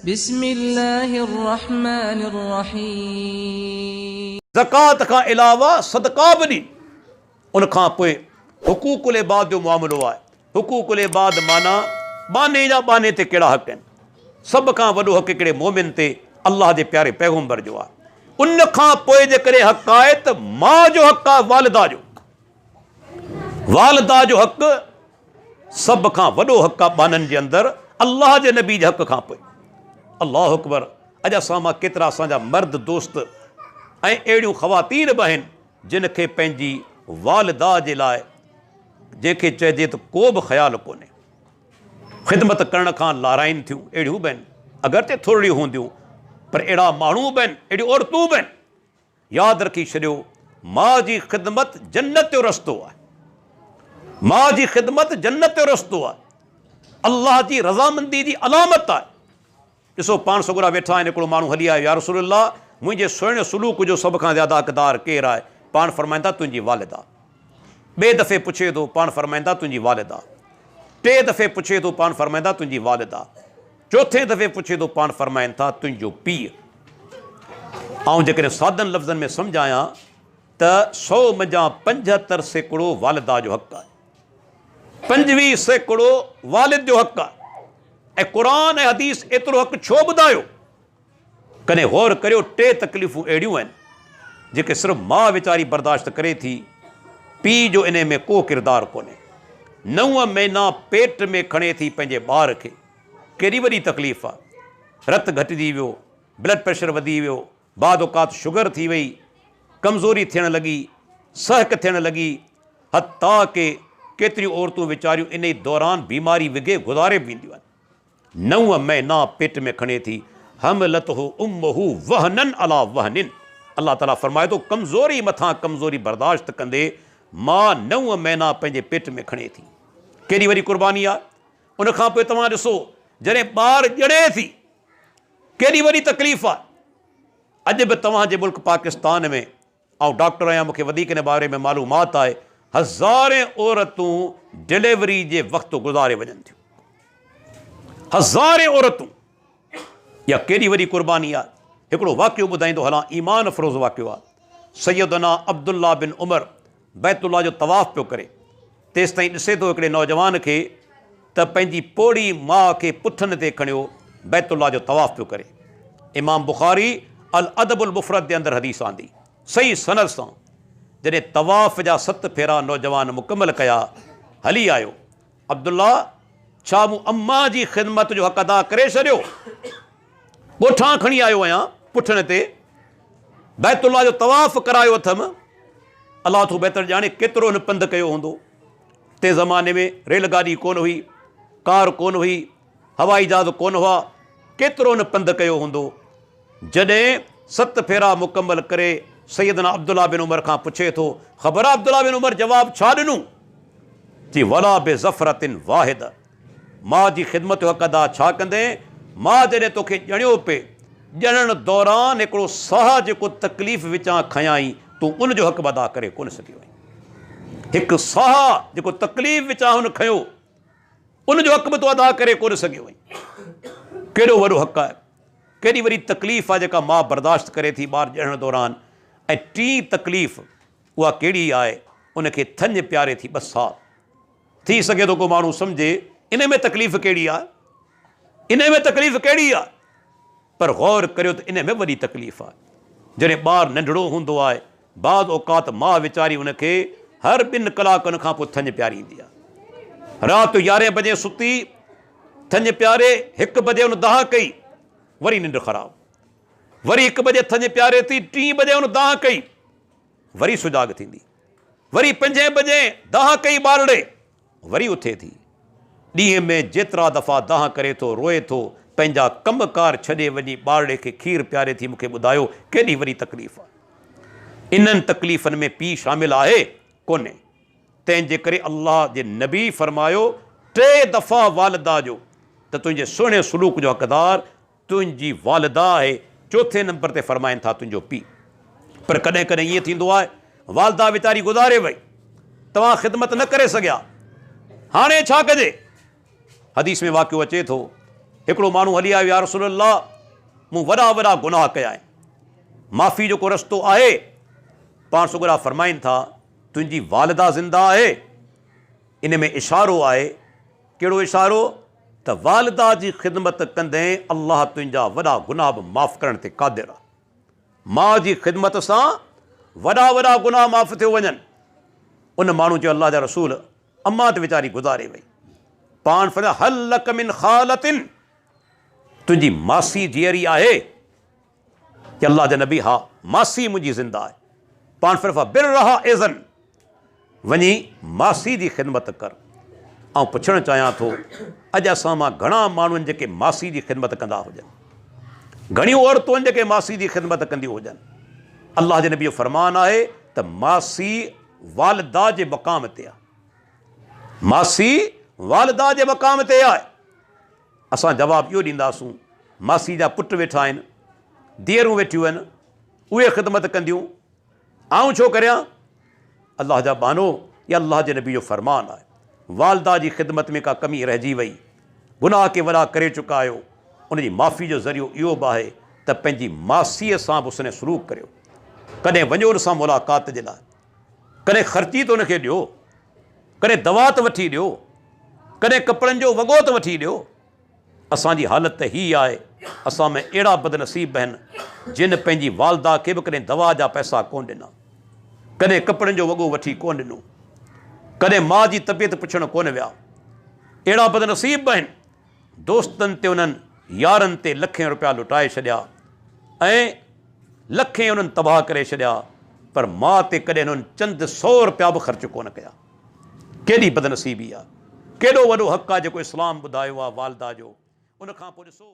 بسم الله الرحمن الرحيم. زڪوات کان علاوه صدقا به ڏي. ان کان پوء حقوق العباد جو معاملو آهي. حقوق العباد معنيٰ ٻانهي جا ٻانهي تي ڪهڙا حق آهن. سڀ کان وڏو حق هڪڙي مؤمن تي الله جي پياري پيغمبر جو آهي. ان کان پوء جيڪڏهن حق آهي ته ماء جو حق آهي والده جو. والده جو حق سڀ کان وڏو حق آ ٻانهن جي اندر الله جي نبي جي حق کان پوء. الله اڪبر اڄ اسان مان ڪيترا اسان جا مرد دوست ۽ اهڙيون خواتين به آهن جن کي پنهنجي والده جي لاء جنهن کي چئجي ته ڪو به خيال ڪونهي خدمت ڪرڻ کان لارائين ٿيون اهڙيون به آهن اگرچه ٿورڙيون هونديون پر اهڙا ماڻهو به آهن اهڙيون عورتون به آهن. ياد رکي ڇڏيو ماء جي خدمت جنت جو رستو آهي ماء جي خدمت جنت جو رستو آهي الله جي رضامندي جي علامت آهي ڏسو پاڻ سگهرا ويٺا آهن هڪڙو ماڻهو هلي آيو يا رسول الله منهنجي سهڻي سلوڪ جو سڀ کان زياده حقدار ڪير آهي پاڻ فرمائن ٿا تنهنجي والده ٻئي دفعي پڇي ٿو پاڻ فرمائن ٿا تنهنجي والده ٽي دفعي پڇي ٿو پاڻ فرمائن ٿا تنهنجي والده چوٿين دفعي پڇي ٿو پاڻ فرمائن ٿا تنهنجو پيء. آئون جيڪڏهن سادن لفظن ۾ سمجهايان ته سؤ منجهان پنجهتر سيڪڙو والده جو حق آهي. پنجويهه سيڪڙو والد جو حق آهي ۽ قرآن ۽ حديث ايترو حق ڇو ٻڌايو؟ ڪڏهن غور ڪريو ٽي تڪليفون اهڙيون آهن جيڪي صرف ماء ويچاري برداشت ڪري ٿي پيء جو انهي ۾ ڪو ڪردار ڪونهي نو مهينا پيٽ ۾ کڻي ٿي پنهنجي ٻار کي ڪيڏي وڏي تڪليف آ رت گهٽجي ويو بلڊ پريشر وڌي ويو بعد اوقات شگر ٿي وئي ڪمزوري ٿيڻ لڳي سهڪ ٿيڻ لڳي حتيٰ ڪي ڪيتريون عورتون ويچاريون انهي دوران بيماري وگهي گذاري به وينديون آهن. نو مهينا پيٽ ۾ کڻي ٿي، حملته امه وهنا علي وهن، الله تعاليٰ فرمائي ٿو ڪمزوري مٿان ڪمزوري برداشت ڪندي ماء نو مهينا پنهنجي پيٽ ۾ کڻي ٿي، ڪيڏي وڏي قرباني آهي، ان کان پوء توهان ڏسو جڏهن ٻار ڄڻي ٿي ڪيڏي وڏي تڪليف آهي، اڄ به توهان جي ملڪ پاڪستان ۾ آئون ڊاڪٽر آهيان مون کي وڌيڪ ان باري ۾ معلومات آهي هزارين عورتون ڊليوري جي وقت گذاري وڃن ٿيون هزارين عورتون يا ڪيڏي وڏي قرباني آهي هڪڙو واقعو ٻڌائيندو هلان ايمان افروز واقعو آهي سيدنا عبدالله بن عمر بيت الله جو طواف پيو ڪري تيستائين ڏسي ٿو هڪڙي نوجوان کي ته پنهنجي پوڙهي ماء کي پٺن تي کڻيو بيت الله جو طواف پيو ڪري. امام بخاري الادب المفرد جي اندر حديث آندي صحيح سند سان جڏهن طواف جا ست ڦيرا نوجوان مڪمل ڪيا هلي آيو عبدالله ڇا مون امان جي خدمت جو حق ادا ڪري ڇڏيو؟ ڳوٺان کڻي آيو آهيان پٺڻ تي بيت الله جو طواف ڪرايو اٿم الله ٿو بهتر ڄاڻي ڪيترو هن پنڌ ڪيو هوندو تنهن زماني ۾ ريل گاڏي ڪونه هئي ڪار ڪونه هئي هوائي جهاز ڪونه هئا ڪيترو هن پنڌ ڪيو هوندو جڏهن ست ڦيرا مڪمل ڪري سيدنا عبدالله بن عمر کان پڇي ٿو خبر عبدالله بن عمر جواب ڇا ڏنو چي ولا بي ظفرتن واحد ماء جي خدمت جو حق ادا ڇا ڪندين؟ ماء جڏهن توکي ڄڻيو پئي، ڄڻڻ دوران هڪڙو ساهه جيڪو تڪليف وچان کنيائين، تون ان جو حق به ادا ڪري ڪونه سگهيو آهين. هڪ ساهه جيڪو تڪليف وچان هن کنيو، ان جو حق به تون ادا ڪري ڪونه سگهيو آهين. ڪيڏو وڏو حق آهي، ڪيڏي وڏي تڪليف آهي جيڪا ماء برداشت ڪري ٿي ٻار ڄڻڻ دوران ۽ ٽين تڪليف اها ڪهڙي آهي، ان کي ٿڃ پياري ٿي ٻه سال. ٿي سگهي ٿو ڪو ماڻهو سمجهي انهي ۾ تڪليف ڪهڙي آ انهي ۾ تڪليف ڪهڙي آ پر غور ڪريو ته انهي ۾ وڏي تڪليف آ جڏهن ٻار ننڍڙو هوندو آ بعض اوقات ماء ويچاري ان کي هر ٻن ڪلاڪن کان پوء ٿڃ پياريندي آ رات جو يارهين بجي ستي ٿڃ پياري هڪ بجي ان دانهن ڪئي وري ننڊ خراب وري هڪ بجي ٿڃ پياري ٿي ٽي بجي ان دانهن ڪئي وري سجاڳ ٿيندي، وري پنجين بجين دانهن ڪئي ٻارڙي وري اٿي ٿي، ڏينهن ۾ جيترا دفعا دانهن ڪري ٿو، روئي ٿو، پنهنجا ڪم ڪار ڇڏي وڃي ٻارڙي کي کير پياري ٿي، مون کي ٻڌايو ڪيڏي وڏي تڪليف آهي. انهن تڪليفن ۾ پيء شامل آهي ڪونهي، تنهن جي ڪري الله جي نبي فرمايو ٽي دفعا والده جو ته تنهنجي سهڻي سلوڪ جو حقدار تنهنجي والده آهي، چوٿين نمبر تي فرمائن ٿا تنهنجو پيء. پر ڪڏهن ڪڏهن ائين ٿيندو آهي، والده ويچاري گذاري وئي، توهان خدمت نه ڪري سگهيا، هاڻي ڇا ڪجي؟ حديث ۾ واقعو اچي ٿو، هڪڙو ماڻهو هلي آيو يا رسول الله! مون وڏا وڏا گناهه ڪيا آهن، معافي جو ڪو رستو آهي؟ پاڻ سڳورا فرمائن ٿا، تنهنجي والده زنده آهي. ان ۾ اشارو آهي. ڪهڙو اشارو؟ ته والده جي خدمت ڪندين الله تنهنجا وڏا گناهه به معاف ڪرڻ تي قادر آهي ماء جي خدمت سان وڏا وڏا گناهه معاف ٿيو وڃن ان ماڻهو چيو الله جا رسول اما ته ويچاري گذاري وئي پاڻ فرمايو هل لك من خالتن تنهنجي ماسي جيئري آهي اي الله جا نبي! ها ماسي منهنجي زنده آهي، پاڻ فرف برها اذن وڃي ماسي جي خدمت ڪر. آئون پڇڻ چاهيان ٿو، اڄ اسان مان گهڻا ماڻهو آهن جيڪي ماسي جي خدمت ڪندا هجن. گهڻيون عورتون آهن جيڪي ماسي جي خدمت ڪنديون هجن. الله جي نبي جو فرمان آهي ته ماسي والده جي مقام تي آهي. ماسي والده جي مقام تي آهي. اسان جواب اهو ڏينداسون، ماسي جا پٽ ويٺا آهن، ڌيئرون ويٺيون آهن، اهي خدمت ڪنديون، آئون ڇو ڪريان؟ الله جا ٻانهو، اها الله جي نبي جو فرمان آهي، والده جي خدمت ۾ ڪا ڪمي رهجي وئي، گناهه ڪي وڏا ڪري چڪا آهيو، ان جي معافي جو ذريعو اهو به آهي ته پنهنجي ماسيء سان به حسن سلوڪ ڪريو، ڪڏهن وڃو ان سان ملاقات جي لاء. ڪڏهن خرچي ته ان کي ڏيو، ڪڏهن دوا ته وٺي ڏيو، ڪڏهن ڪپڙن جو وڳو ته وٺي ڏيو. اسان جي حالت ته هيء آهي، اسان ۾ اهڙا بدنصيب به آهن، جن پنهنجي والده کي به ڪڏهن دوا جا پئسا ڪونه ڏنا، ڪڏهن ڪپڙن جو وڳو وٺي ڪونه ڏنو، ڪڏهن ماء جي طبيعت پڇڻ ڪونه ويا. اهڙا بدنصيب به آهن. دوستن تي انهن يارن تي لکين روپيا لٽائي ڇڏيا ۽ لکين انهن تباهه ڪري ڇڏيا پر ماء تي ڪڏهن انهن چند سئو روپيا به خرچ ڪونه ڪيا. ڪيڏي بدنصيبي آ. ڪيڏو وڏو حق آ جيڪو اسلام ٻڌايو آ والده جو ان کان پوء ڏسو.